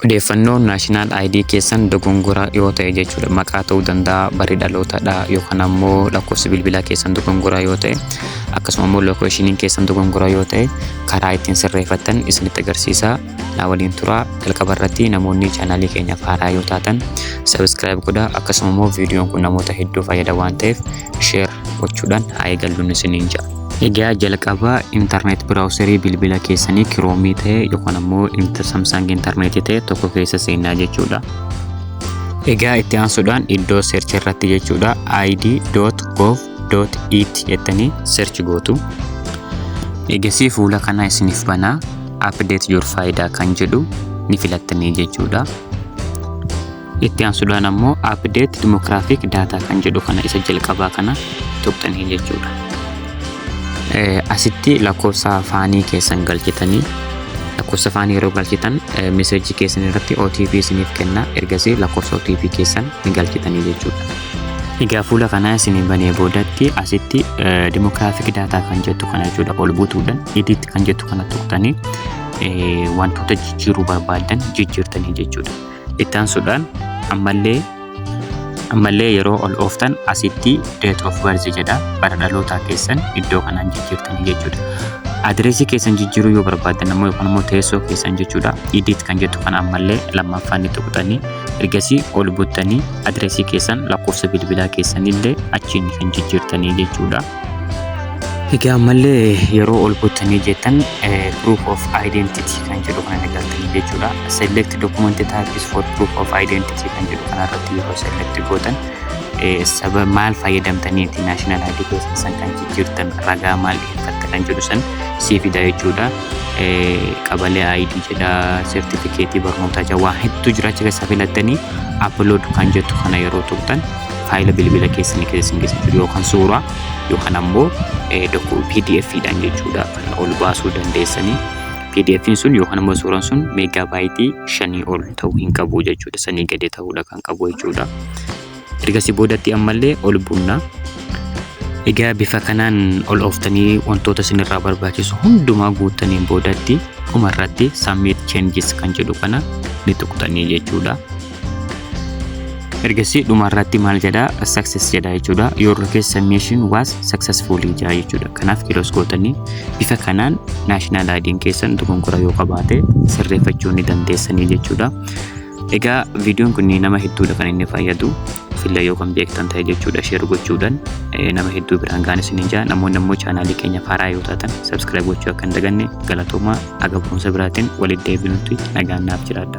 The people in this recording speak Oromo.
Odeeffannoon national ID keessan dogongora yoo ta'e jechuudha. Maqaa ta'uu danda'a, barri dhalootadha yookaan ammoo lakkoofsi bilbilaa keessan dogongora yoo ta'e akkasuma ammoo lookeeshiniin keessan dogongora yoo ta'e karaa ittiin sirreeffattan isinitti agarsiisa. Na waliin turaa jalqaba irratti namoonni chaanaalii keenyaaf haaraa yoo taatan sabiskiraayib godha akkasuma ammoo viidiyoon kun namoota hedduu fayyada waan ta'eef sheer gochuudhaan haa eegalluun isiniin ja'a. Egaa jalqaba internet browserii bilbila keessanii kiroomii ta'e yookaan ammoo inter samsung internet ta'e tokko keessa seenaa jechuudha. Egaa itti aansuudhaan iddoo search irratti jechuudha id.gov.it jettanii search gootu. Egasii fuula kana isiniif banaa update your faayidaa kan jedhu ni filattanii jechuudha. Itti aansuudhaan ammoo update demographic data kan jedhu kana isa jalqabaa kana tuqxanii jechuudha. Asitti lakkoofsa faanii keessan galchitanii lakkoofsa faanii yeroo galchitan meseejii keessan irratti OTP isiniif kenna ergasii lakkoofsa OTP keessan ni galchitanii jechuudha. Egaa fuula kanaa isin banee boodatti asitti demographic data kan jettu kana jechuudha ol buutuudhaan edit kan jettu kana tuqxanii wantoota jijjiiruu barbaadan jijjiirtanii jechuudha. Ittaansuudhaan ammallee ammallee yeroo ol ooftan asitti date of birth jedha bara dhalootaa keessan iddoo kanaan jijjiirtan jechuudha. Adireesii keessan jijjiiruu yoo barbaaddan ammoo yookaan immoo teessoo keessan jechuudha. Edit kan jettu kana ammallee lammaffaan itti tuqxanii ergasii ol buttanii adireesii keessan lakkoofsa bilbilaa keessanillee achiin kan jijjiirtanii jechuudha. Egaa ammallee yeroo ol buttanii jettan eh, proof of identity kan jedhu kana argattanii jechuudha. Select document types for proof of identity kan jedhu kana irratti yeroo select gootan eh, saba maal fayyadamtaniiti national ID keessan san kan jijjiirtan ragaa maal dhiyeeffatta kan jedhu san sii fida jechuudha. Eh, Qabalee ID jedha sertifikeetii barnootaa jedha waan hedduu jira achi keessa filattanii upload kan jettu kana yeroo tuqxan faayila bilbila keessanii keessa isin geessa jiru yookaan suuraa yookaan ammoo pdf dhaan jechuudha kan ol baasuu dandeessanii pdf sun yookaan ammoo suuraan sun meegaa baayitii shanii ol ta'uu hin qabu jechuudha sanii gadi ta'uudha kan qabu jechuudha ergasii boodatti ammallee ol bunna egaa bifa kanaan ol ooftanii wantoota isinirraa barbaachisu hundumaa guuttaniin boodatti dhumarratti submit changes kan jedhu kana ni tuqxanii jechuudha. ergasii dhuma irratti maal jedha success jedha jechuudha your location mission was successfully jedha jechuudha kanaaf kilos gootanii bifa kanaan national ID'n keessan dogongora yoo qabaate sirreeffachuu ni dandeessanii jechuudha egaa viidiyoon kun nama hedduudha kan inni fayyadu filla yoo kan beektan ta'e jechuudha sheer gochuudhaan nama hedduu biraan gaanis ni jaa namoonni immoo chaanaalii keenya faaraa yoo taatan sabskiraayib gochuu akka hin daganne galatoomaa Haga boonsa biraatiin walitti deebinutti nagaan naaf jiraadha.